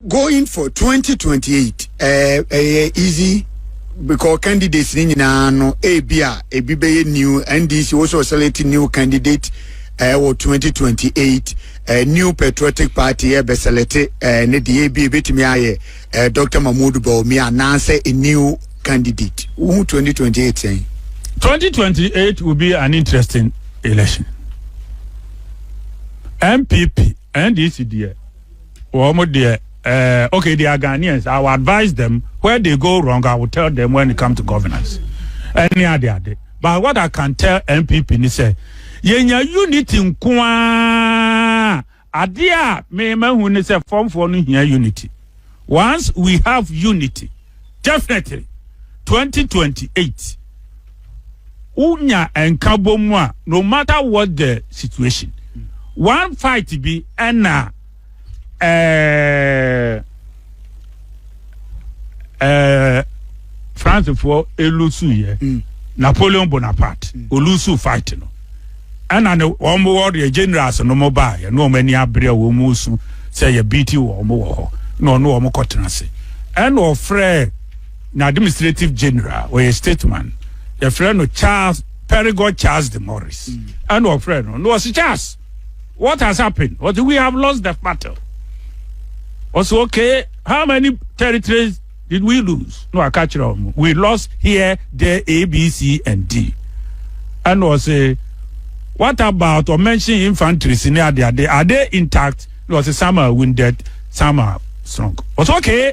Going for 2028 ɛɛ ɛyɛ easy because candidates ni nyinaa no ebi a ebi bɛyɛ new NDC also select new candidate ɛɛ wɔ 2028 ɛɛ new patriotic party ɛɛ bɛ select ɛɛ ne deɛ ebi ebetumi ayɛ ɛɛ Dr. Mahmoud Bawumia anaasɛ a new candidate wohu 2028 sɛn. 2028 will be an interesting election. MPP, NDC deɛ. wɔn deɛ eh, okay they are Ghanaians I will advise them where they go wrong I will tell them when it come to governance ɛne ade ade but what I can tell NPP ni sɛ yɛnya unity nko ara adeɛ a mɛma hu ne sɛ fɔmfoɔ no hia unity once we have unity definitely 2028 wo nya nkabɔ mu a no matter what the situation one fight bi ɛna ɛɛ ɛɛ francefoɔ elusu yɛ mm. napoleon bonaparte mm. olusu fight no ɛna ne wɔn wɔ deɛ generals no mo baa yɛ ne wɔn ani abere a wɔn mu su sɛ yɛ beat wɔn wɔ hɔ na ɔno wɔn kɔ tena ase ɛna ɔfrɛ. na administrative general ɔyɛ stateman yɛfrɛ no charles perigo charles de morris ɛna ɔfrɛ no na ɔsi charles what has happened ɔsi we have lost the battle ɔsi okay how many territories did we lose na waka kyerɛ ɔmo we lost here there a b c and d ɛna ɔsi what about ɔmention infantries ne ade ade are they intact na ɔsi some are wounded some are strong ɔsi okay.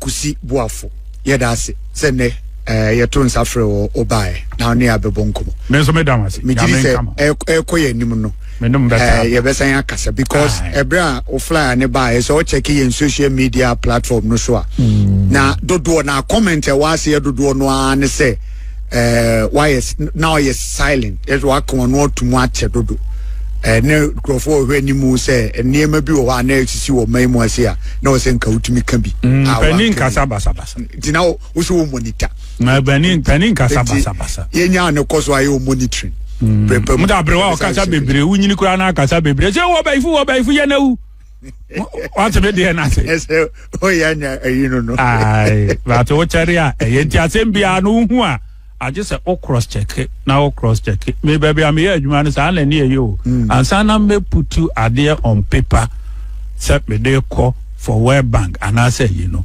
Kusi Boafo, yɛda ase sɛ nnɛ yɛtoo nsa frɛɛ wo, wobaeɛ na wo ne yɛn abɛbɔ nkɔmmɔ. Me nso meda wo ase. Megye di sɛ ɛrekɔ yɛn anim no, yɛbɛsan akasa because ɛberɛ a wo flyer ne baeɛ sɛ ɔkyɛke yɛn social media platform no so a, na dodoɔ na comment ɛwɔ aseɛ dodoɔ no ara ne sɛ ɛɛ wayɛ na ɔyɛ silent ɛsɛ waka wɔn ano atum akyɛ dodo ɛɛ ne nkurɔfoɔ ɔhwɛ anim sɛ nneɛma bi wɔ hɔ a na esisi wɔ ɔman mu ase a na ɔsɛ nka wotumi ka bi. Mm, a panin nkasa basabasa. nti na wosɛ wɔ monitor. na panin panin nkasa basabasa. yɛnya ne kɔ so ayɛ wɔ monitoring. Mm. mo da aberewa ɔkasa bebree wonyini koraa na akasa bebree sɛ wɔ bɛyifo wɔ bɛyifo yɛ na wu. wate me deɛ no ase ɛsɛ ɔyɛ anya ayi no no ae but wokyɛre a ɛyɛ nti asɛm biara no wohu a agye sɛ wo cross check na wo cross check me baabi a meyɛ adwuma no saa na ɛne ɛyɛ o hmm. ansa na mɛputu adeɛ on paper sɛ mede kɔ for world bank anaasɛ yi no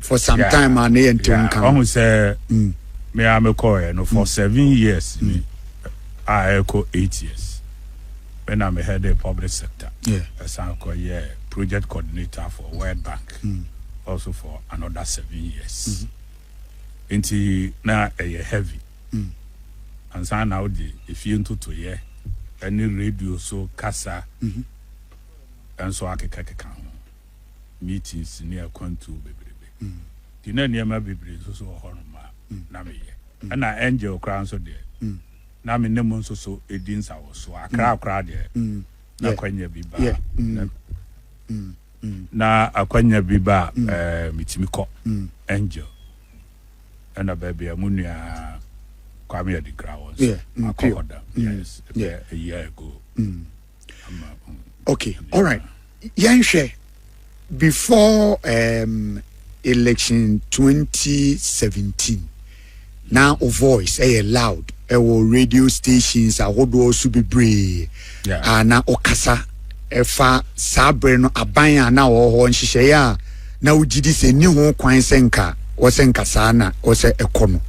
for some yeah, time a ne yɛ ntew nka no ɔho sɛ mm. me a mekɔɛ no for mm. seven years mm. ni a ɛkɔ eight years me na mehɛ de public sector ɛsan yeah. kɔyɛ project coordinator for world bank mm. also for another seven years mm -hmm. nti na ɛyɛ heavy mm. ansa na wode efie ntotoyɛ ɛne radio so kasa mm -hmm. ɛnso akekakeka ho meetings ne akwantuo bebrebe nti na nneɛma bebree nso so wɔ hɔnom a na meyɛ. Ɛna Angel koraa nso deɛ na me ne mo nso so di nsawɔsoɔ. Accra koraa deɛ na akwanya bi ba a na akwanya bi ba a metumi kɔ. Angel ɛna baabi a mo nua Kwame Adinkra wɔ nso makɔ hɔ da. Yes, ɛbɛyɛ a year ago. okay all right yɛnhwɛ before um, election 2017 na o voice ɛyɛ eh, loud ɛwɔ eh, radio stations ahodoɔ so bebree yeah. a ah, na ɔkasa ɛfa saa berɛ no aban a na ɔwɔ hɔ nhyehyɛeɛ a na wogye di sɛ enni ho kwan sɛ nka wɔsɛ nka saa na wɔsɛ ɛkɔ no.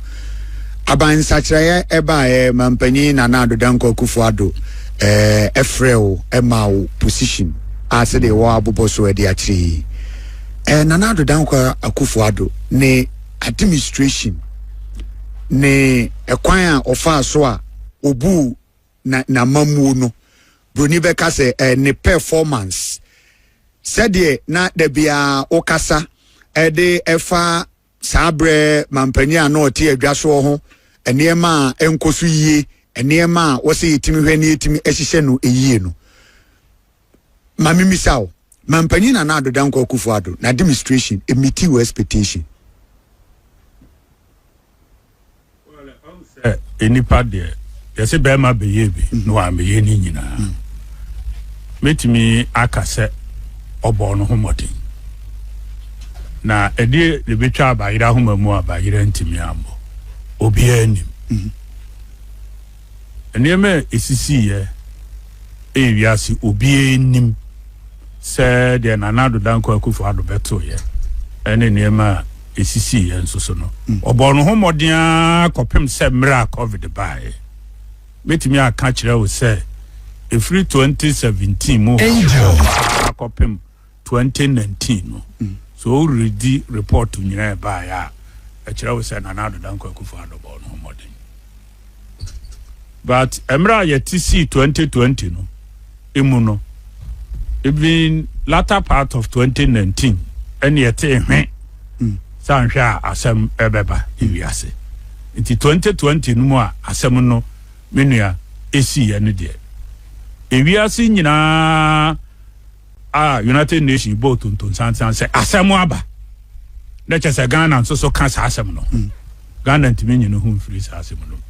Aban nsakyeraeɛ baeɛ ma mpanyin Nana Addo Dankwa Akufo Addo eh, frɛɛ wo maa wo position a sɛdeɛ wɔ abobɔ so ɛde akyerɛ yi. Eh, Nana Addo Dankwa Akufo Addo ne administration ne ɛkwan a ɔfaa so a ɔbuu na n'amammuo no, buroni bɛka sɛ eh, ne performance, sɛdeɛ na da biara wokasa de ɛfa saa berɛ mampanin a na ɔte adwa soɔ ho nneɛma a ɛnkɔ so yie, nneɛma a wɔsɛ yɛtumi hwɛ ne yɛtumi hyehyɛ no yie no. ma me misa wo, Mampanyin Nana Addo Dankwa Akufo Addo n'administration meetii wo expectation? sɛ nnipa deɛ yɛsɛ bɛrima bɛyɛ bi mhm. na wammɛyɛ ne nyinaa mhm. mɛtumi aka sɛ ɔbɔɔ no ho mmɔden na ɛdeɛ ne bɛtwa abayera homa mu abayera ntumi ambɔ obiara nim mhm. Nneɛma a esisiiɛ ɛyɛ wiase obiara nnim sɛ deɛ Nana Addo Dankwa Akufo Addo bɛtoeɛ ɛne nneɛma a esisiiɛ nso so no ɔbɔɔ ne ho mmɔden ara kɔpem sɛ mmerɛ a covid baeɛ mɛtumi aka akyerɛ wo sɛ ɛfiri 2017 mu ha akɔpem Twenty nineteen no sɛ woredi report nyinaa ɛbaeɛ a ɛkyerɛ wo sɛ Nana Addo Dankwa Akufo Addo bɔɔ ne ho mmɔden but mmerɛ a yɛte sii twenty twenty no emu no even latter part of twenty nineteen ɛne yɛtee hwe sɛ anhwɛ a asɛm ɛbɛba ewiase nti twenty twenty no mu a asɛm no me nua ɛsiiɛ no deɛ ewiase nyinaa a United Nations bɔɔ tontonsansan sɛ asɛm aba na kyɛ sɛ Ghana nso so ka saa asɛm no ho. Hmm. Ghana ntumi nyi ne ho mfiri saa asɛm no mu.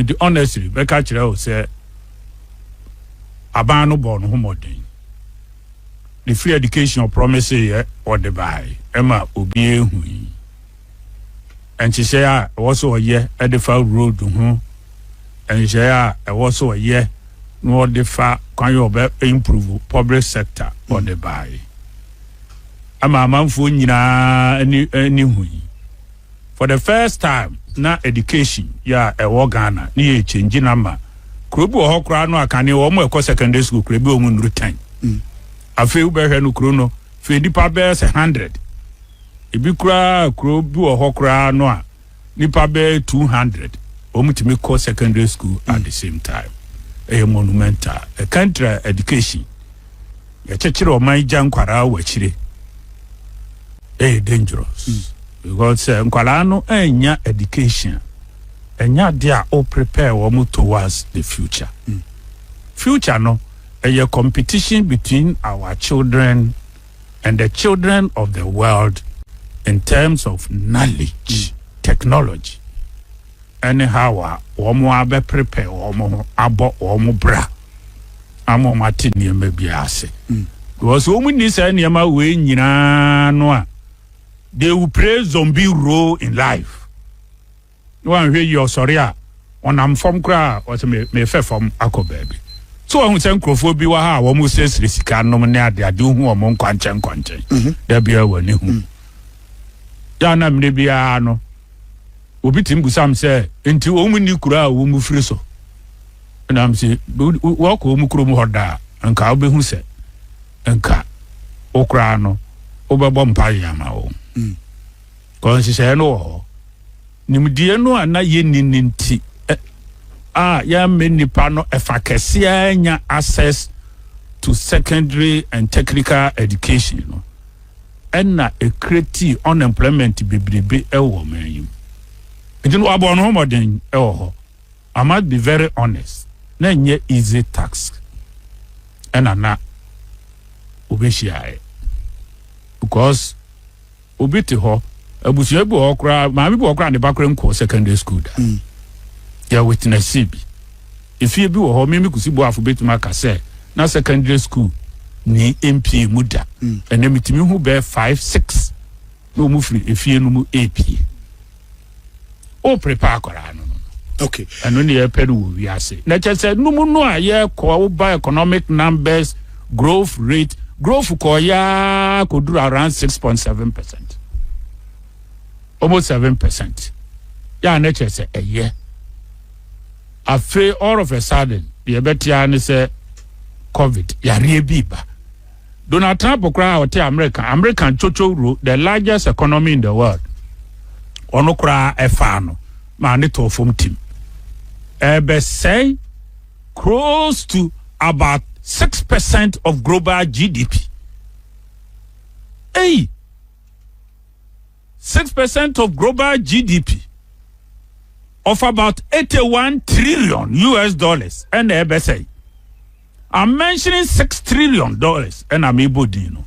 Nti honestly mɛka kyerɛ wo sɛ aban no bɔɔ ne ho mmɔden. Ne free education ɔpromise yɛ ɔde bae ɛma obi ehu yi. nhyehyɛe a ɛwɔ sɛ ɔyɛ de fa road ho nhyehyɛe a ɛwɔ sɛ ɔyɛ na ɔde fa kwan yɛ ɔbɛ improve public sector ɔde bae ama amanfoɔ nyinaa ne ne ho yi for the first time na education yɛ a ɛwɔ Ghana ne yɛ change na ma kuro bi wɔ hɔ koraa no akane wɔn ɛkɔ secondary school kuro bi wɔn nnuru ten afei wobɛhwɛ no kuro no Hwɛ nnipa bɛyɛ sɛ hundred. Ebi koraa a kuro bi wɔ hɔ koraa no a nnipa bɛyɛ two hundred wɔn tumi kɔ secondary school at the same time. Ɛyɛ monumental. Ɛkantra education. Yɛkyekyere ɔman gya nkwaraa wɔ akyire. Ɛyɛ dangerous. Mm. Because sɛ nkwaraa no annya education ɛnya de a o prepare wɔn towards the future. Mm. Future no Ɛyɛ competition between our children and the children of the world in terms of knowledge, technology ɛne how a wɔn abɛ prepare wɔn ho abɔ wɔn bra ama wɔn ate nneɛma bi ase. Mm. Because wɔn nni saa nneɛma wei nyinaa no a they will play zombie role in life. na wanhwɛ yie ɔsɔre a ɔnam fam koraa ɔsɛ me mefɛ fam akɔ baabi so wahu sɛ nkurɔfoɔ bi wɔ ha a wɔn srɛsrɛ sika nom ne ade ade hu wɔn nkwankyɛn nkwankyɛn mhm. da biara wɔ ne hu mhm. yɛ na mmerɛ biara no obi tim busam sɛ nti wɔn mu ni kura a wɔn mu firi so nam sɛ wɔkɔ wɔn mu kurom hɔ daa nka wobɛhu sɛ nka wo koraa no wobɛbɔ mpa yɛ ama wɔn. Mm. Kɔ nhyehyɛe no wɔ hɔ. Nimdeɛ no a na yenni no nti a yɛammɛ nnipa no ɛfa kɛse ara nya access to secondary and technical education no ɛna ɛkretii unemployment bebrebe ɛwɔ ɔman yi mu. Nti no wɔabɔ no ho mmɔden ɛwɔ hɔ. I must be very honest, na ɛnyɛ easy task ɛna na wɔbɛhyiaeɛ because Obi te hɔ, abusua bi wɔ hɔ koraa, maame bi wɔ hɔ koraa ne ba koraa nkɔɔ secondary school da. Mm. Yɛ witnessee bi. Efie bi wɔ hɔ, Mimi Kusi Boafo betumi aka sɛ na secondary school ni mpie mu da. Mm. Ɛnna metumi hu bɛɛ five six na wɔn firi efie no mu epie. o prepare akwaraa no no okay ɛno ne yɛpɛ no wɔ wiase na kyɛ sɛ num no a yɛkɔ woba economic numbers growth rate growth kɔɔyaa kɔduru around six point seven percent almost seven percent yɛ a na kyɛ sɛ ɛyɛ afei all of a sudden deɛ ɛbɛtea ne sɛ covid yareɛ bi ba Donald Trump koraa a ɔte America, American chochow ro, the largest economy in the world. Ɔno koraa ɛfaa no maa ne tɔɔ fam tim. Ɛbɛsɛe close to about six percent of global GDP. Hey! six percent of global GDP of about eighty one trillion US dollars ɛna ɛbɛsɛe. I'm mentioning six trillion dollars ɛna mebɔ din no.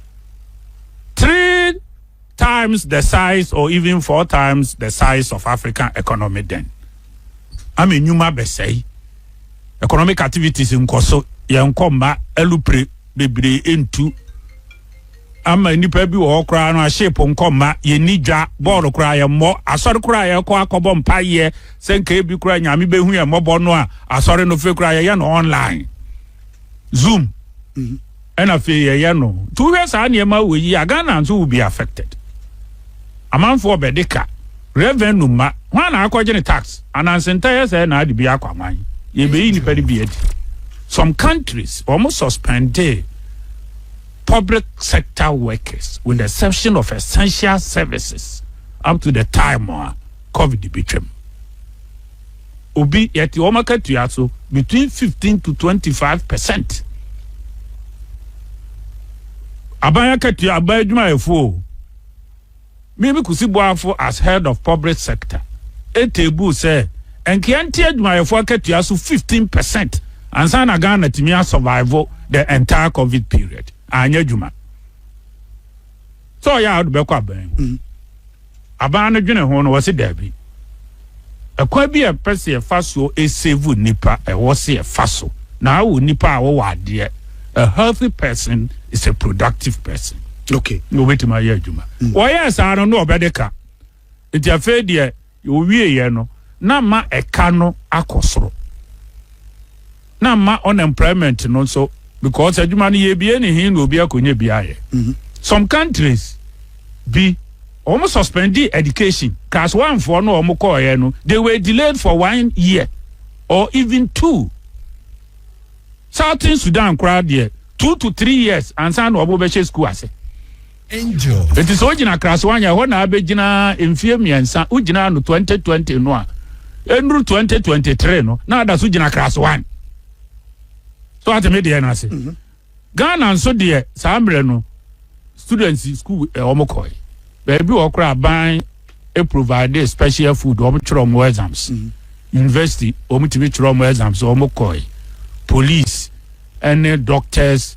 Three times the size or even four times the size of African economy then. Ama enyuma bɛsɛe. Economic activities nkɔ so yɛn nkɔ mma alupre bebree ntu ama nnipa bi wɔ hɔ koraa no ahyeepo nkɔ mma yɛnni dwa bɔɔlo koraa yɛmmɔ asɔre koraa yɛkɔ akɔbɔ mpaeɛ sɛ nka ebi koraa nyame bɛhu yɛ mmɔbɔ no a asɔre no fei koraa yɛyɛ no online zoom mhm. ɛna fei yɛyɛ no nti wohwɛ saa nneɛma wɔ yi a ghana nso will be affected amanfoɔ bɛde ka revenue ma hwan na akɔgye ne tax anansenta yɛ sɛ na ade bi akɔ aman yɛbɛyi nnipa no bi adi some countries wɔn suspendee public sector workers with the exception of essential services up to the time a covid bɛtwam. Obi yɛte wɔn akatua so between fifteen to twenty five percent. Aban akatua, aban adwumayɛfoɔ o. Mimi Kusi Boafo as head of public sector teebuu sɛ nkeɛ nte adwumayɛfoɔ akatua so fifteen per cent ansa na Ghana atumi a survive the entire covid period. Anyɛ adwuma sɛ ɔyɛ a ɔde bɛkɔ aban mu. Aban no dwene ho no ɔse daabi. Ɛkwan bi a yɛpɛ sɛ yɛfa so save nnipa ɛwɔ sɛ yɛfa so na awo nnipa a wɔwɔ adeɛ. A healthy person is a productive person. Okay. Na obetumi ayɛ adwuma. Mm. Wɔyɛɛ saa no na ɔbɛde ka. Nti afei deɛ ɔwieeɛ no na ma ɛka no akɔ soro. na mma unemployment no nso because adwuma no yɛbie ne he na obi akɔnya bi ayɛ mhm. some countries bi wɔn suspendi education class one foɔ no wɔn kɔɔyɛ no they were delayed for one year or even two southern sudan koraa deɛ two to three years ansa na wɔn bɛhyɛ school ase. Angel. Enti sɛ wogyina Kraswany a, ɛhɔ na abɛgyina mfeɛ mmiɛnsa. Wogyinaa no 2020 no a, ɛnnuru 2023 no, na ada so gyina Kraswany. So ate me deɛ no ase. Mhm. Ghana nso deɛ saa mmerɛ no, students school eh, wɔn kɔe. Baabi wɔ koraa aban e provide special food, wɔn twerɛ wɔn exams. Mhm. University, wɔn tumi twerɛ wɔn exams, wɔn kɔe. Police, ɛne doctors,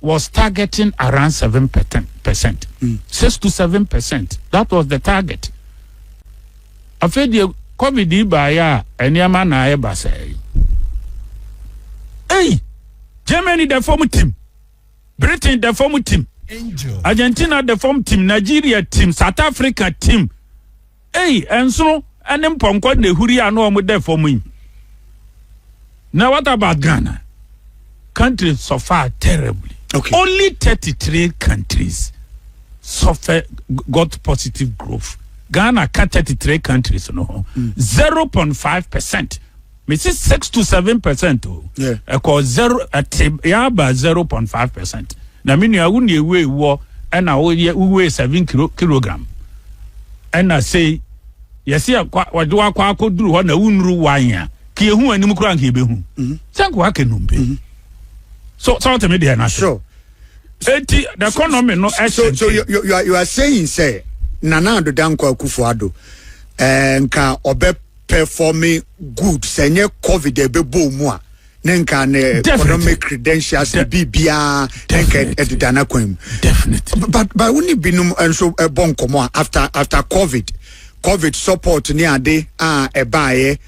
was targeting around seven percent mm. six to seven percent that was the target afei deɛ covid yi baayɛ a nneɛma na ayɛ basɛɛ ei germany da fam tim britain da fam tim argentina da fam tim nigeria tim south africa tim Ei, nsono ne mpɔnkɔ na ehuri a na wɔn da fam yi. Now what about Ghana? Country suffer terribly. Okay. Only 33 countries suffer got positive growth. Ghana ka 33 countries no ho. Mm. 0.5 percent. mesi six to seven percent o ɛkɔ zero ɛte yaba zero point five percent na me nua wo nea wei wɔ ɛna woyɛ wowei seven kilo kilogram ɛna sei yɛsi akwa wɔde wakɔ akɔduru hɔ na wunuru wan a ka ehu anim kura nka ebehu mm-hmm. sɛ nka waka num pe mm-hmm. so sɛ wɔte me deɛ na sure eti the economy no ɛhyɛ so so you you are you are saying sɛ nana adodankɔ akufo ado ɛɛ eh, nka ɔbɛ. pɛfɔme good sɛ nyɛ covid ɛbɛbɔ ɔmu a ne nka ne economic credentials ne biribiaa ne nka ɛdeda no kwan mu but by wo ne binom nso ɛbɔ nkɔmmɔ a after after covid covid support ne ade a ɛbaeɛ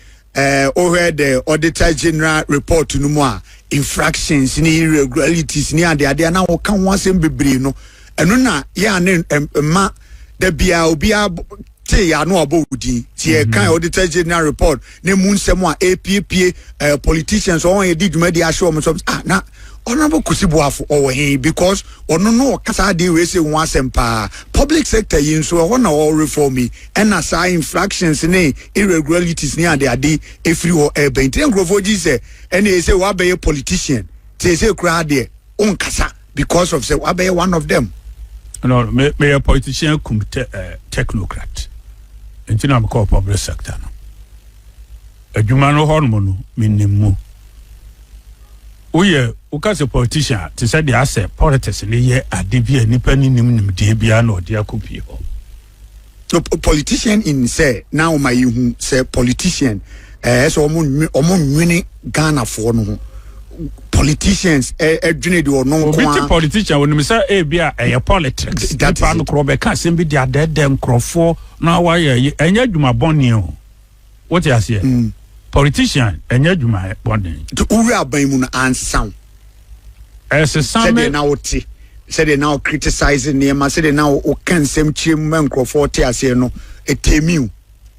wohwɛ eh, the auditor general report no mu a infractions ne irregularities ne adeadeɛ na wɔka ho asɛm bebree no ɛno na yɛ a ne mma da biaa obiaa tee yɛn ano a ɔbɔ wo din ti yɛ kan auditor general report na emu nsɛm a epiepie ɛɛ eh, politicians wɔn yɛ di dwumadi ahyɛ wɔn nsɛm ah na honourable kusi buafo ɔwɔ he because ɔno no ɔkasa adeɛ wei sɛ ho asɛm paa public sector yi nso ɛhɔ na ɔwɔ reform yi ɛna saa infractions ne irregularities ne adeade efiri hɔ ɛɛbɛn ti nkurɔfoɔ gyi sɛ ɛna ɛsɛ wɔabɛyɛ politician te ɛsɛ kura adeɛ ɔnkasa. because of sɛ wabɛyɛ one of them. no no me meyɛ politician kum te, uh, technocrat nti na mekɔɔ public sector no adwuma no hɔnom no menim mu woyɛ woka sɛ politician a te sɛ deɛ asɛ politics ne yɛ ade bi a nnipa no nim nimdeɛ biara na ɔde akɔpie hɔ no politician in sɛ na wɔn ayɛ hu sɛ politician ɛɛ sɛ wɔn nwe wɔn nwene ghanafoɔ no ho politicians ɛdwene de ɔno nko a obi ti politician wɔn nim sɛ ebi a ɛyɛ politics nipa no korɔ bɛka asɛm bi de adɛɛdɛ nkorɔfoɔ na wayɛ ɛnyɛ adwuma bɔnee o. Wote aseɛ? Mm. Politician ɛnyɛ adwuma bɔden. Nti wowura aban mu no ansaw. Ɛsesa me. Sɛdeɛ na wote sɛdeɛ na wo criticize nneɛma sɛdeɛ na woka nsɛm kyerɛ mu ma nkurɔfoɔ te aseɛ no ɛtɛmi o.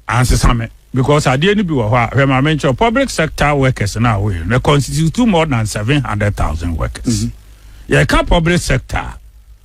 Ansesa me because adeɛ no bi wɔ hɔ a hwɛ ma menkyerɛ public sector workers no a woyɛ no constitute more than 700,000 workers. Mm -hmm. Yɛka public sector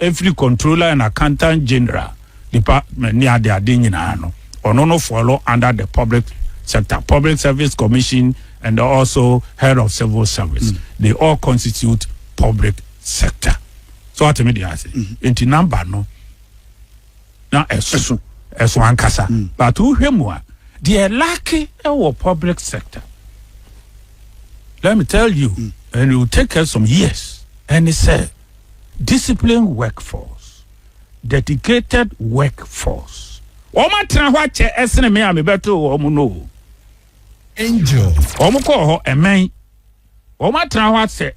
Ɛfiri Controller and Accountant General Department ne ade ade nyinaa no, ɔno no follow under the Public Sector, Public Service Commission and also Head of Civil Service. They all constitute Public Sector. So wate me deɛ ase? Nti number no na ɛso, ɛso ankasa. But wohwɛ mu a, deɛ ɛlake ɛwɔ Public Sector, let me tell you, and it will take us some years, ɛne sɛ, disciplined workforce, dedicated workforce. Wɔatena hɔ akyɛ ɛsene me a mebɛtoo wɔn no o. Angel. Wɔn kɔɔ hɔ ɛmɛn. Wɔatena hɔ asɛ.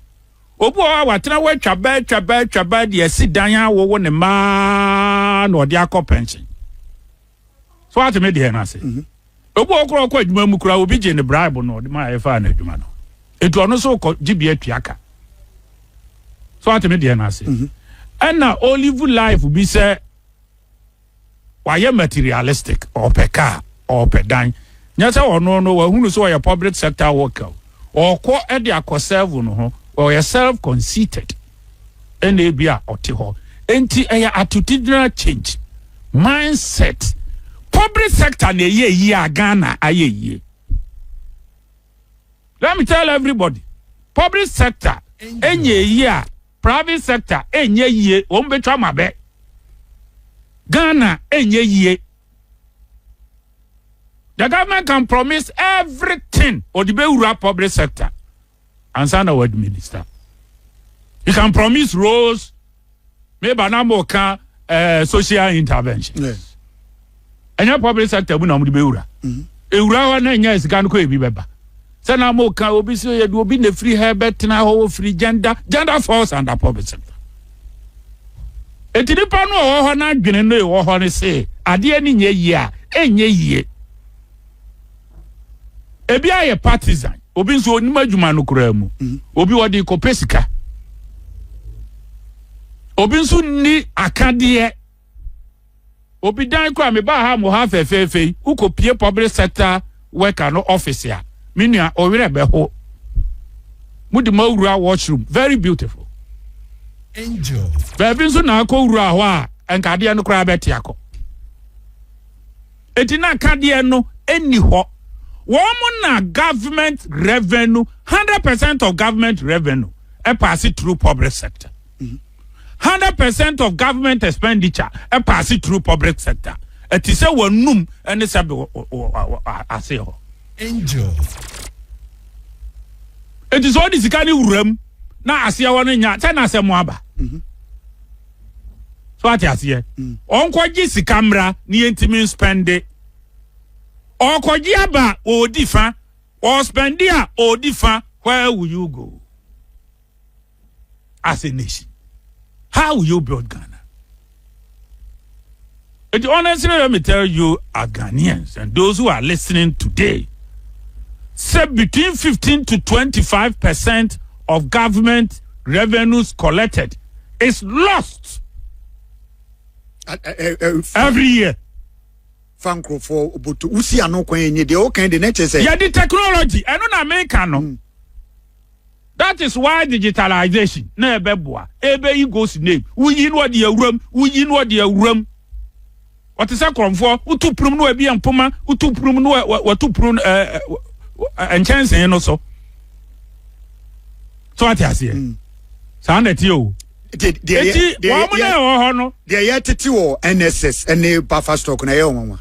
Obi wɔ hɔ a watena hɔ atwa bɛɛ atwa bɛɛ atwa bɛɛ de asi dan awowo ne mmaa na ɔde akɔ pɛnsen. so ate me deɛ no ase mhm. obi wɔ korɔ ɔkɔ adwuma mu koraa obi gye ne bribe no ɔde ma ɛfa no adwuma no etu ɔno so kɔ gye bi atua ka so ate me deɛ no ase mhm. ɛna olive life bi sɛ wayɛ materialistic ɔpɛ kaa ɔpɛ dan nyɛ sɛ ɔno no wahunu sɛ ɔyɛ public sector worker ɔkɔ de akɔ serve no ho ɔyɛ self conceited ɛna ebia ɔte hɔ enti ɛyɛ atotegyina change mindset public sector na ɛyɛ yie a Ghana ayɛ yie let me tell everybody public sector ɛnyɛ yie a private sector ɛnyɛ yie wɔn bɛtwa ma bɛ Ghana ɛnyɛ yie the government can promise everything ɔde bɛwura public sector ansa na wɔadi minista you can promise roles meba na mo ka eh, social intervention ɛnyɛ public sector mu na wɔde bɛwura mm-hmm. ewura hɔ na ɛnyɛ sika no kɔ ebi bɛba sɛ na mo ka obi sɛ yɛde obi na efiri ha bɛtena hɔ ofiri gender gender falls under public sector eti nipa no ɔwɔ hɔ n'adwene no ewɔ hɔ no se adeɛ ne nyɛ yie a ɛnyɛ yie. ebi ayɛ partisan obi nso onim adwuma no koraa mu mhm. obi ɔde kɔpɛ sika obi nso nni akadeɛ obi dan koraa mebaa ha mo ha fɛfɛɛfɛ yi wokɔpie public sector worker no office a me nua ɔwerɛ bɛho mode ma wura washroom very beautiful angel baabi nso na akɔ wura hɔ a nkadeɛ no koraa bɛte akɔ Enti na akadeɛ no nni hɔ. Wɔn na government revenue, hundred percent of government revenue ɛpaase through public sector. Hundred percent of government expenditure ɛpaase through public sector. Ɛte sɛ w'anum ne sɛbe wɔ aseɛ hɔ. Angel. Enti sɛ wode sika no wura mu na aseɛ hɔ no nya a, sɛn na asɛm aba? so ate aseɛ mm. ɔnkɔgye sika mmra ne yɛntumi nspɛnde ɔkɔgye aba ɔɔdi fa ɔspɛnde a ɔɔdi fa where will you go as a nation how will you build ghana Enti honestly let me tell you as Ghanaians and those who are listening today sɛ between 15 to 25 percent of government revenues collected is lost every year. fa nkurɔfoɔ boto wosi ano kwan yɛ nyɛ deɛ ɔkan de na kyɛ sɛ. yɛde technology ɛno na meka no. Mm. That is why digitalization na ɛbɛboa ɛbɛyi ghost name woyi no ɔde awuram woyi no ɔde awuram ɔte sɛ korɔmfoɔ wotu punum no ɛbi mpoma wotu punum no wɔtu punum ɛɛ nkyɛnsee no so so ate aseɛ mm. saa na ɛteɛ o. nti wɔn mo na ɛwɔ hɔ no. deɛ yɛtete wɔ nss ne buffer stock na ɛyɛ ɔnwanwa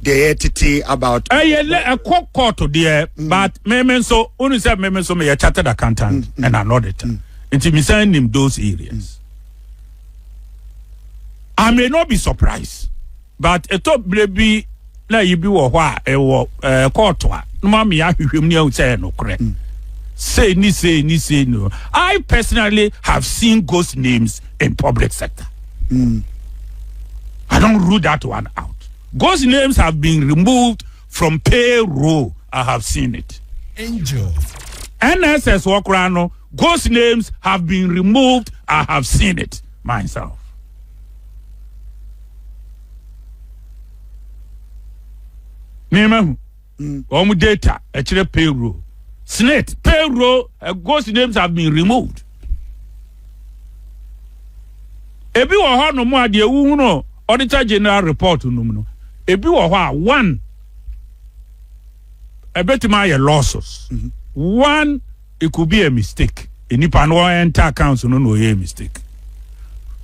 deɛ yɛtete about. ɛyɛ lɛ ɛkɔ kɔɔto deɛ mm. but meme nso wonu sɛ meme nso meyɛ chartered accountant mm, mm. and an auditor nti mesan nim those areas i may not be surprised. But ɛtɔ berɛ bi na yi bi wɔ hɔ a ɛwɔ ɛɛ kɔɔto a na ma me ahwehwɛ mu ne ahu sɛ ɛyɛ nokorɛ mm. sei ni sei ni sei no I personally have seen ghost names in public sector mm. I don't rule that one out ghost names have been removed from payroll I have seen it angel NSS wɔ koraa no ghost names have been removed I have seen it. myself. Memahu. Mm. Wɔn data ɛkyerɛ payroll. Snit payroll uh, ghost names have been removed. Ebi wɔ hɔ nom a deɛ wohu no auditor general report nom no. Ebi wɔ hɔ a one ɛbɛtumi ayɛ losses. Mm -hmm. One It could be a mistake, nipa no enter account no na ɔyɛ mistake.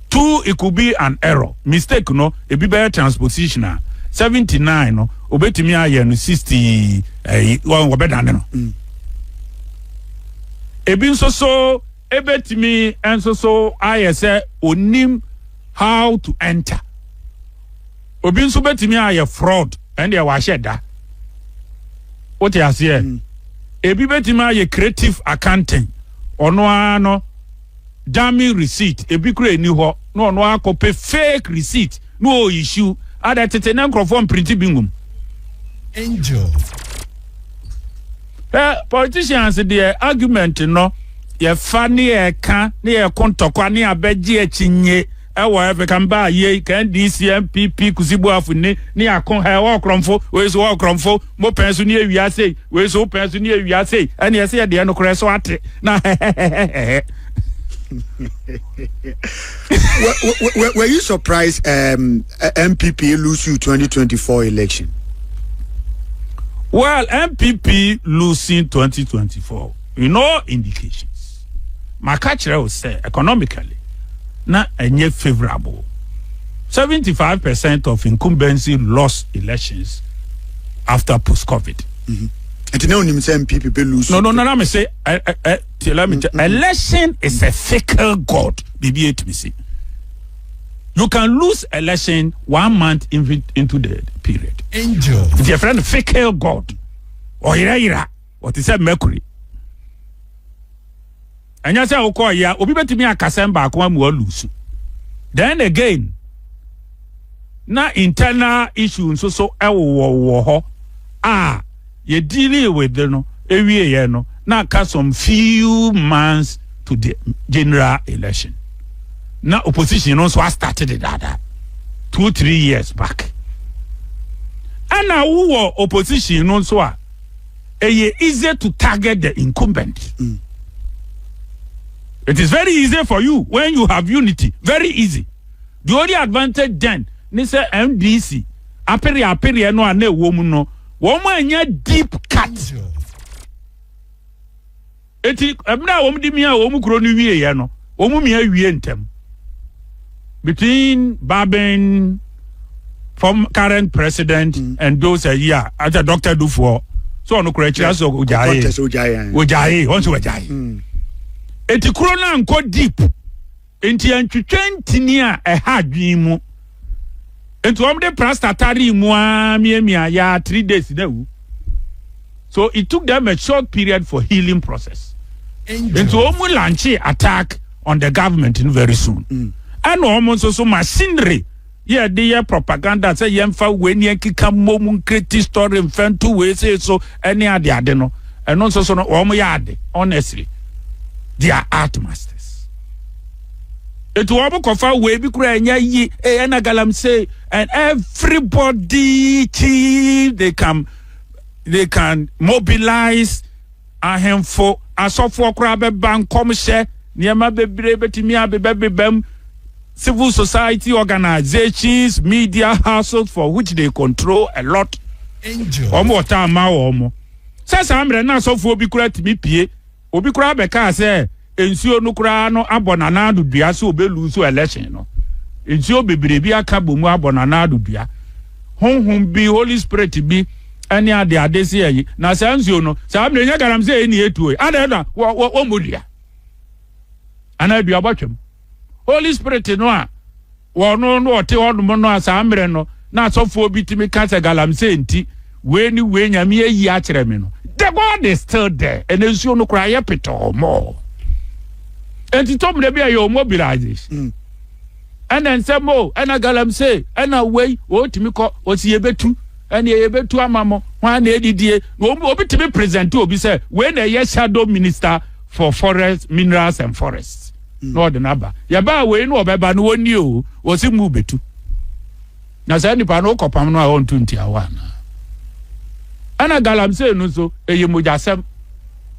Two, it could be an error. Mistake no, ebi bɛyɛ transposition a, 79 no, obetumi ayɛ no 60 ɛyi, wɔbɛdane no. Mm. Ebi nso so, ebetumi nso so ayɛ sɛ onim how to enter. obi nso bɛtumi ayɛ fraud ɛndeɛ wahyɛ da wote aseɛ mm. ebi bɛtumi ayɛ creative accounting ɔno ara no dummy receipt ebi kura ɛni hɔ na ɔno akɔpɛ fake receipt na ɔɔyihyiw ada tete ne nkurɔfoɔ mprinti bi nwom angel eh, politicians deɛ argument no yɛfa ne yɛka ne yɛko ntɔkwa ne abɛgye akyinnye Ɛwɔ ɛfɛ kan baa yei ka NDC, NPP, kusi boafo ni ne ako ha ɛwɔ ɔkorɔmfo wei so wɔ ɔkorɔmfo mo pɛn so ne awia sei wei so wo pɛn so ne awia sei ɛne ɛsɛ yɛ deɛ nokorɛ so ate na hɛhɛhɛhɛhɛ. Were you surprised um, MPP lose you 2024 election? Well, MPP losing 2024, no indications. Maka kyerɛ wo sɛ economically na ɛnyɛ favorable. Seventy five percent of incumbency lost elections after post covid. Mm-hmm. Nti na onim sɛ NPP bɛ lose. No no no na me se ɛ ɛ ɛ ti let me tell mm-hmm. election is a fickle god bibi etumi si. You can lose election one month into the period. Angel. Nti yɛ fɛ no fickle god ɔyerɛyerɛ. Wɔte sɛ mercury. Ɛnyɛ sɛ wokɔɔ yɛ obi bɛtumi akasɛm baako amu alusu. Then again, na internal issue nso so ɛwowɔwowɔ hɔ a yɛdili with no ɛwieɛ no na aka some few months to the general election. Na opposition no nso astarte de daadaa two three years back. Ɛna wowɔ opposition no nso a ɛyɛ easy to target the incumbent mm. it is very easy for you when you have unity very easy the only advantage then ne sɛ ndc apere apere no a na ɛwɔ mu no wɔn anya deep cut. Yeah. Enti, bere a wɔde miaa wɔn kurow no wieeɛ no, wɔmia wie ntɛm. Between Babin, form current president, mm. and those a year, as a doctor do for, so ɔno kura akyira sɛ ɔgyae ɔgyae ɔn sɛ ɔgyae eti kuro no ankɔ deep Enti yɛntwetwe ntini a ɛha adwene mu. Enti wɔde plasta taree mu ara miamia ya three days na awu. So it took them a short period for healing process. Enti wɔn lanche attack on the government very soon. Ɛna wɔn nso so machinery. Yɛde yɛ propaganda sɛ yɛmfa wei ne yɛnkeka mmom nkreti story mfa nto wei sei so ne ade ade no ɛno nso so no wɔn yɛ ade honestly they are art masters eti wɔn kɔfa wei bi kura ɛnyɛ yi eh, ɛna galamsey and everybody chi they can they can mobilize Ahemfo asɔfoɔ koraa bɛba nkɔmhyɛ, nneɛma bebree bɛtumi abebɛbebam, civil society organisations, media houses for which they control a lot. Wɔn wɔ taa ma wɔn. Sɛ saa mmerɛ na asɔfoɔ bi koraa tumi pie, obi koraa bɛkaa sɛ, Nsuo no koraa no abɔ n'anan ano dua sɛ ɔbɛ luusu election no. Nsuo bebree bi aka bɔ mu abɔ n'anan ano dua. Honhom bi, Holy Spirit bi ɛne ade ade se ayi. Na saa nsuo no, saa mmerɛ nyɛ galamsey ne ɛtuo yi. Adɛn na wɔmmɔ dua? Anaa dua bɔtwam? Holy Spirit no a wɔno no ɔte hɔnom no a saa mmerɛ no na asɔfoɔ bi tumi ka sɛ galamsey nti wei ne wei nyame ayi akyerɛ me no the God is still there ɛnɛ nsuo no koraa yɛ petɔɔ mɔɔ ɛnti tɔ mmerɛ bi a yɛ mobilization mm. ɛna nsɛm o ɛna galamsey ɛna wei wɔtumi kɔ wɔsi yɛbɛtu ɛne ɛyɛ bɛtu ama mo hwan na ɛdidie na obi tumi present obi sɛ wei na ɛyɛ shadow minister for forest minerals and forests na ɔde no aba yɛbaa wei na ɔbɛba no wɔnni o wɔsi mu bɛtu na saa nipa no wokɔpam no a ɔnto ntiawa anaa ɛna galamsey no nso ɛyɛ mogyasɛm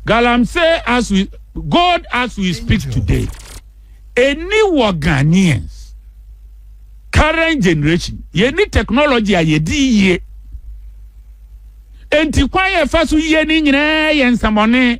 galamsey as we god as we speak today any wɔ ghanaians current generation yɛni technology a yɛdi yie enti kwan yɛ fa so yie ne nyinaa yɛ nsɛmɔne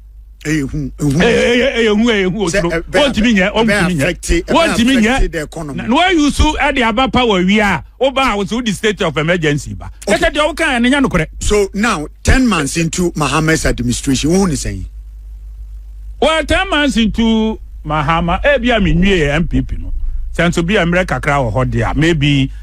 ɛyɛ hu ehu ɛyɛ ɛyɛ hu ɛyɛ hu oturo wɔntumi nyɛ wɔntumi nyɛ wɔntumi nyɛ na wɔayi so ɛde aba pa wɔ awia a woba a wɔsɛ wodi state of emergency ba ɛsɛ deɛ woka ɛne nya nokorɛ. so now ten months into mahamas administration wohu ne sɛn. well ten months into mahama ebi a mi nwie npp no sɛ nso bi a mmerɛ kakra wɔ hɔ deɛ maybe.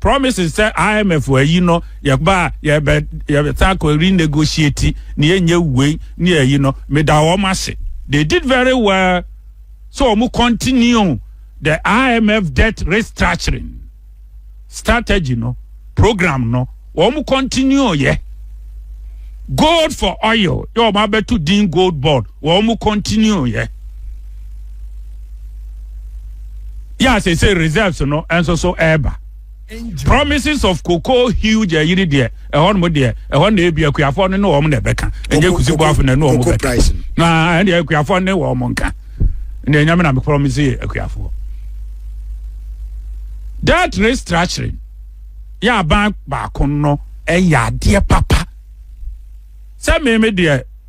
promise sɛ IMF ayi no yɛba a yɛbɛ yɛbɛsan akɔ renegotiate ne yɛnyɛ wei ne yɛyi no meda wɔn ase they did very well so wɔn continue the IMF debt restructuring strategy no program no wɔn continue yɛ gold for oil yɛ wɔn abɛto din gold board wɔn continue yɛ. yɛ a sese reserves no nso so ɛreba promises of cocoa huge ɛyi ni deɛ ɛhɔ nom deɛ ɛhɔ na ebi akuafoɔ no ne wɔn na ɛbɛka ɛnyɛ kusi bɔ afɔ na ɛne wɔn bɛka na ɛne akuafoɔ ne wɔn nka na ɛnyɛmɛ na mi promise yɛ akuafoɔ that restructuring yɛ aban baako no ɛyɛ adeɛ papa sɛ mɛmɛ deɛ.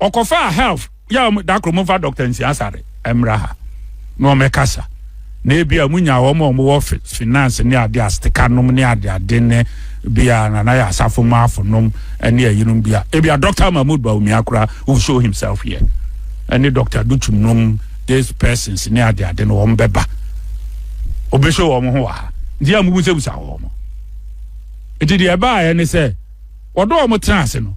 ɔkɔfaa help yɛ wɔn da koro momfa dɔkta nsiasare mmra ha na wɔmmɛkasa na ebi a munya wɔn a wɔwɔ finance ne ade astika nom ne ade ade ne bi a nana yɛ asafo mu afonom ne ayinom bi a ebi a dɔkta mahmood baumia kora who show himself here ɛne dɔkta dutum nom this persons ne ade ade no wɔn bɛba obɛhyɛ wɔn ho wɔ ha nti a mubusabisa wɔn nti deɛ ɛbaeɛ ne sɛ wɔdɔ wɔn tena ase no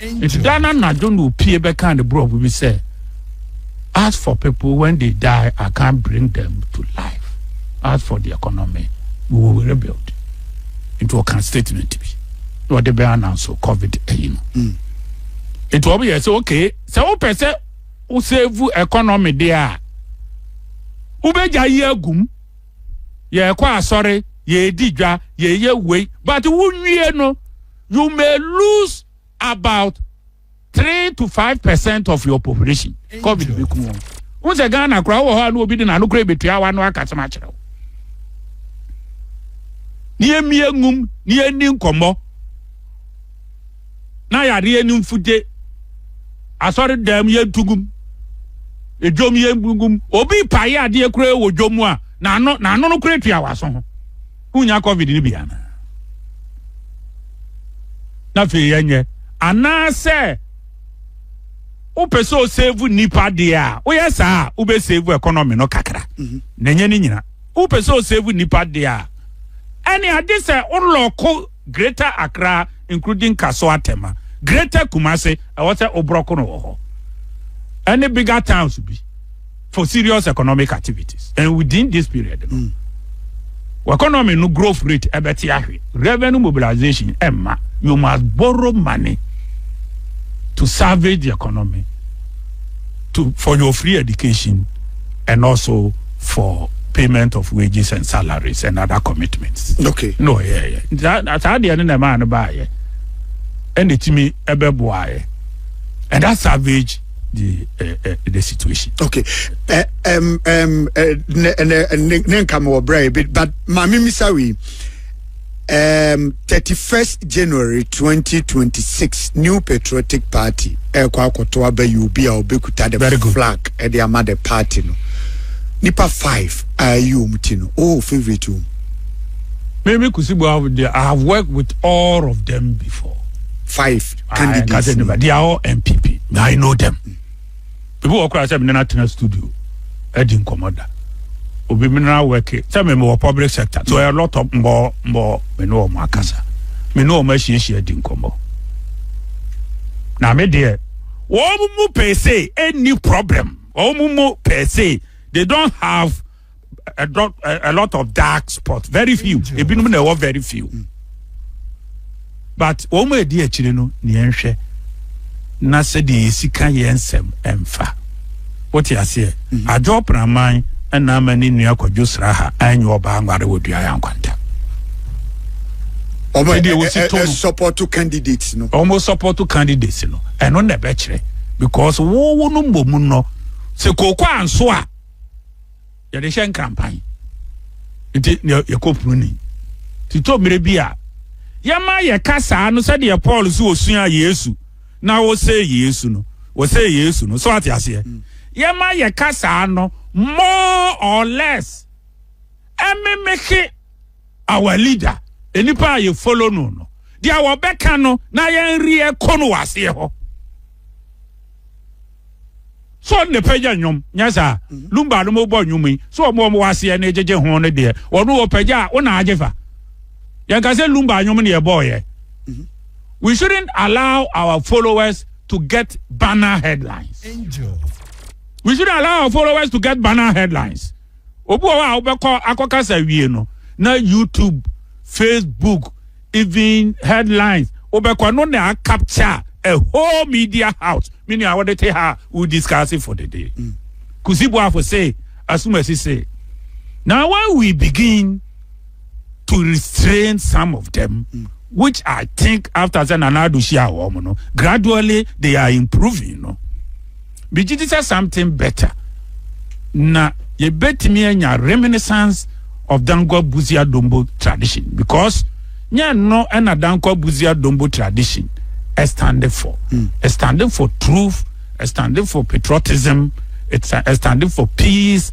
Nti da no anadwo na opue bɛkaa ne brɔfo bi sɛ, As for people, when they die, I can't bring them to life. As for the economy, we will rebuild. Nti ɔka statement bi na ɔde bɛ ananso COVID ayi no. Mm. Nti wɔn yɛ sɛ okay, sɛ wopɛ sɛ wosave economy deɛ a, wobɛgya yi agum, yɛrekɔ asɔre, yɛredi dwa, yɛyɛ wei, but wonwie no, you may lose about three to five percent of your population covid bɛ kun wɔn n sɛ ghana koraa wɔ hɔ a na obi de n'ano koraa ebetua awa no akasɛm akyerɛ wo ne yɛ mmea ngum ne yɛ ni nkɔmɔ na yadeɛ ne mfute asɔre dɛm yɛ ntugum edwom yɛ ngum obi pae adeɛ koraa wɔ dwom a n'ano n'ano no koraa tua awa so ho. Wonnya covid no bi anaa? Na afei yɛnyɛ anaasɛ wopɛ sɛ osevu nnipa deɛ a woyɛ saa a wobɛsevu economy no kakra mhm. na ɛnyɛ ne nyina wopɛ sɛ osevu nnipa deɛ a ɛne agye sɛ wolɔko Greater Accra including Kasoa Tema, Greater Kumasi, ɛwɔ sɛ wo brɔko no wɔ hɔ, ɛne bigger towns bi for serious economic activities and within this period no wɔ economy no growth rate ɛbɛte ahwe. Revenue mobilization ɛmma, you must borrow money to salvage the economy. to for your free education and also for payment of wages and salaries and other commitments. okay no yeah yeah saa saa deɛ no na ɛmaa no baayɛ ɛna etimi ɛbɛboaayɛ and that savage the uh, uh, the situation. okay uh, um, um, uh, ne ne ne ne nka mi wɔ brɛ but maame misawi. um, 31st January 2026 New Patriotic Party ɛkɔ akɔto aba yi obi a ɔbɛkuta the flag ɛde ama the party no nipa 5 a ɛyi wɔn ti no oh favorite wɔn. Mimi Kusibu, I have worked with all of them before. Five candidates. They are all MPP. I know them. ebi wɔ koraa sɛ mene no atena studio adi nkɔmmɔ da obi mene no awɛke sɛ me mewɔ public sector so a lot of mbɔ mbɔ me ne wɔn akasa me ne wɔn ahyiahyia di nkɔmmɔ na me deɛ wɔn mu pɛɛ se ɛnni problem wɔn mu pɛɛ se they don't have a, dot, a, a lot of dark spots very few ebinom na ɛwɔ very few mm. but wɔn mu edi akyire no nea nhwɛ na sɛdeɛ yɛsi ka yɛn nsɛm mfa wote aseɛ mm. adwo praman ɛna ama ne nua kwadwo sra ha ɛnyɛ ɔbaa nware wɔ dua yɛ nkwanta ɔmo ɛdi ewu si to no sɔpɔtɔ candidates no ɔmo sɔpɔtɔ candidates no ɛno na ɛbɛkyerɛ because wɔwɔ no mbɔ mu no sɛ kooko anso a. yɛde hyɛ nkrampan nti na yɛkɔ punu ni titɔ mmerɛ bi a yɛma yɛka saa no sɛdeɛ paul so ɔsua yesu na wɔsɛ yesu no wɔsɛ yesu no so ate aseɛ mm. yɛma yɛka saa no more or less ɛmemeke our leader nipa a yɛ follow no no deɛ wɔbɛka no na yɛn reɛ ko no wɔ aseɛ hɔ so ne pɛgya nnwom nyɛ saa mhm. lumba no mobɔ nnwom yi so ɔmo ɔmo waseɛ ne gyegye ho no deɛ ɔno wɔ pɛgya a wona agye fa yɛnka sɛ lumba nnwom ne yɛbɔɔyɛ mhm. we shouldn't allow our followers to get banner headlines Angel. we shouldn't allow our followers to get banner headlines Obi wɔ hɔ a wobɛkɔ akɔkasa awie no na YouTube, Facebook, even headlines wobɛkɔ no na akapkya a whole media house me nua wode te ha a wo discuss fo dede. Mm. Kusi boafo se asumasi se na when we begin to restrain some of them mm. which i think after sɛ nana ado hyia wɔn no gradually they are improving no megye di sɛ something better na yɛbɛtumi anya reminiscence of dankwa buzia dombo tradition because nyɛ no ɛna dankwa buzia dombo tradition standing for mm. standing for truth standing for patriotism it's standing for peace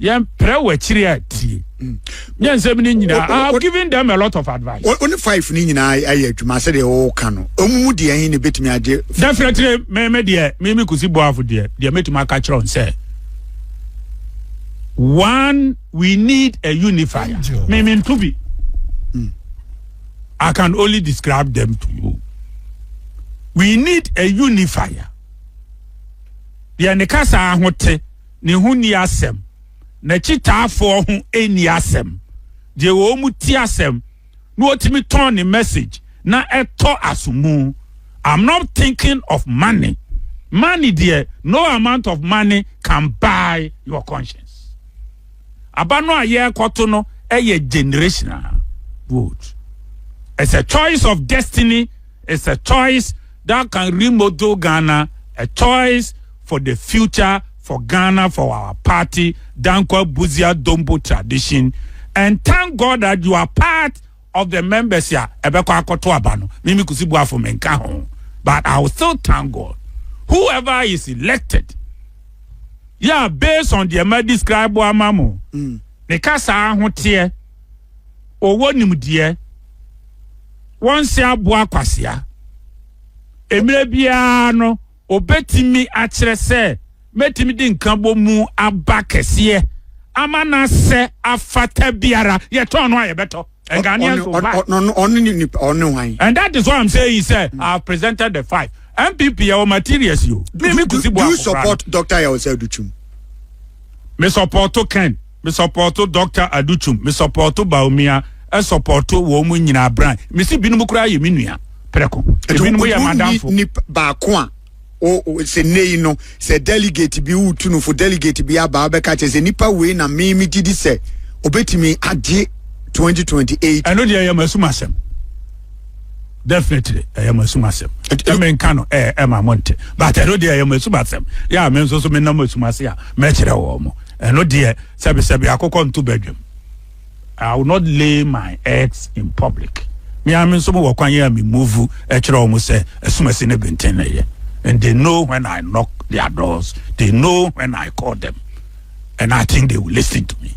yɛn pere wɔ akyire a tie nyɛ nsɛm ne nyinaa i have given them a lot of advice. o ne five ne nyinaa ayɛ adwuma sɛ deɛ ɔɔka no ɔmu mu deɛ ɛhe ne bɛtumi agye. definitely mɛmɛ deɛ mɛmɛ kusi boafo deɛ deɛ mɛtumi aka kyerɛ n sɛ one we need a unifier mɛmɛ nto bi hmm. i can only describe them to you we need a unifier deɛ ne kasa ahote. ne ho nni asɛm, n'akyitaafoɔ ho nni asɛm, deɛ wɔn mu te asɛm na ɔtumi tɔn ne message na ɛtɔ asomu. I'm not thinking of money. Money deɛ no amount of money can buy your conscience. Aba no a yɛrekɔto no ɛyɛ generational vote. It's a choice of destiny is a choice that can remodel Ghana, a choice for the future for Ghana for our party Danquah Busia Dombo tradition and thank God that you are part of the members a ɛbɛkɔ akɔto aba no mimi kusi buafo menka ho but I will still thank God whoever is elected yeah based on the ma describe ama mo mm. ne kasa ahoteɛ ɔwɔ nimdeɛ wɔnse aboa kwasea. Mmerɛ biara no, ɔbɛtumi akyerɛ sɛ mɛtumi de nkabɔmu aba kɛseɛ ama no asɛ afata biara yɛtɔn no a yɛbɛtɔ and Ghanaians will buy. And that is why I'm saying sɛ mm. I have presented the five. MPP yɛ wɔ materials yi o. Do you support Dr. Yaw Sɛ Adukyim? Me support Ken. Me sɔpɔɔto Dɔkta Aduchum, me sɔpɔɔto Bawumia, ɛsɔpɔɔto wɔn mu nyinaa bran. Me si binom koraa yɛ me nua prɛko, ebinom yɛ m'adamfo. Ɛtu nipa baako a sɛ nnɛ yi no sɛ delegate bi wotu no fo delegate bi aba abɛka kyerɛ sɛ nipa wei na me me gye di sɛ obetumi agye 2028. ɛno deɛ ɛyɛ m'asum asɛm definitely ɛyɛ m'asum asɛm ɛmɛ nka no ɛɛ ɛma mo nte but ɛno deɛ ɛyɛ m'asum asɛm yɛ a me nso so me nam asum ase a mɛkyerɛ wɔn mo. ɛno deɛ sɛbesɛbe akokɔ nto badwam i will not lay my eggs in public me ara me nso mowɔ kwan yɛ a me move ɛkyerɛ wɔn sɛ asumasi ne benten na ɛyɛ and they know when i knock their doors they know when i call them and i think they will listen to me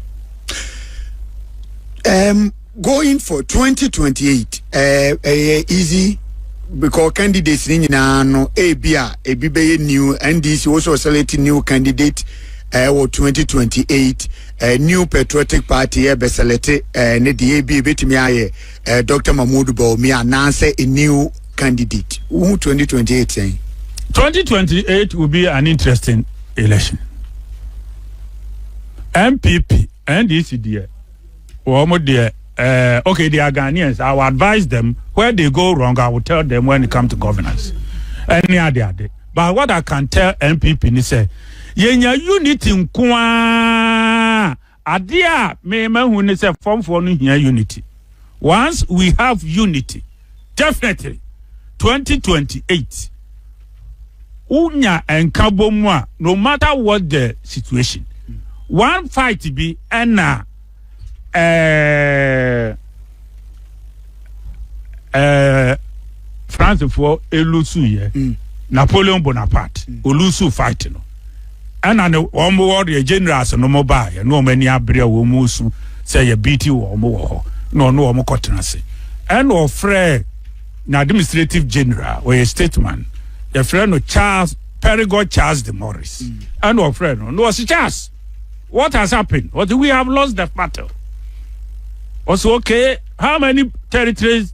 um, going for 2028 ɛɛ ɛyɛ easy because candidates ni nyinaa no ebi a ebi bɛyɛ new ndc also select new candidate ɛɛ eh, wɔ 2028 ɛɛ eh, new patriotic party ɛɛ bɛ select ɛɛ eh, ne deɛ ebi ebetumi ayɛ ɛɛ dr mahmood bawumia anaasɛ a new candidate wohu 2028 sɛn. 2028 will be an interesting election. MPP, NDC, dear. wɔn deɛ eh, okay they are Ghanaians I will advise them where they go wrong I will tell them when it come to governance ɛne ade ade but what I can tell NPP ni sɛ yɛnya unity nko ara adeɛ a mema hu ni sɛ fɔmfoɔ no hia unity once we have unity Definitely 2028 wo nya nka bɔ mu a no matter what the situation one fight bi ɛna ɛɛ ɛɛ Francefoɔ elusu yɛ mm. Napoleon Bonaparte mm. olusu fight no. ɛna ne wɔn wɔ deɛ generals no mo baa yɛ ne wɔn ani abere a wɔn mu su sɛ yɛ beat wɔn mo wɔ hɔ na ɔno wɔn kɔ tena ase ɛna ɔfrɛ na administrative general ɔyɛ stateman yɛfrɛ no Charles Perigord Charles de Morris ɛna ɔfrɛ no na ɔsi Charles what has happened ɔsi we have lost the battle ɔsi okay how many territories.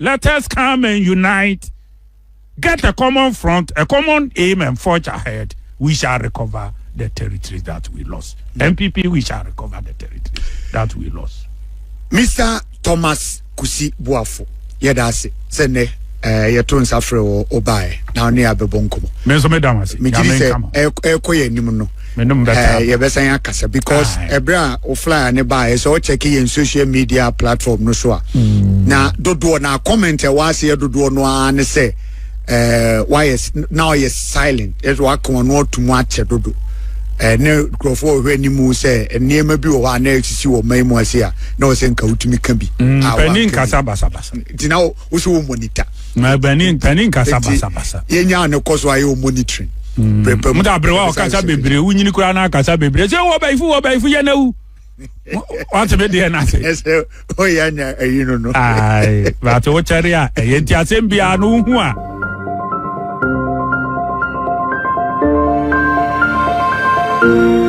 Let us come and unite, get a common front, a common aim and forge ahead. We shall recover the territories that we lost. NPP, we shall recover the territories that we lost. Mr. Thomas Kusi Buafo, yɛda ase sɛ nnɛ eh, yɛto nsa frɛ wɔ wobaeɛ na ne abɛbɔ nkɔmmɔ. Me nso meda mo ase. Megye di sɛ ɛkɔ yɛ anim no Eh, yɛbɛsan akasa because ɛberɛ a wo flyer ne baa ɛsɛ ɔkyɛke yɛn social media platform no so a mm. na dodoɔ na comment ɛwɔ aseɛ dodoɔ no ara ne sɛ eh, wayɛ na ɔyɛ silent ɛsɛ waka ɔno ato mu akyɛ dodo eh, ne nkurɔfoɔ ɔhwɛ anim sɛ nneɛma bi wɔ hɔ a na ɛsisi wɔ man mu ase a na ɔsɛ nka wotumi ka bi mm, nti na wosɛ wɔ monitor pani nkasa basabasa yɛnyaa ne kɔ so ayɛ wɔ monitoring mm. prɛpɛ mu da berɛ wa ɔkasa bebree wonyini koraa na akasa bebree sɛ wɔ bayifo wɔ bayifo yɛ na wu wate me deɛ no ase ɛsɛ ɔyɛ anya ayi no no baate wokyɛre a ɛyɛ nti asɛm biara no wohu a thank you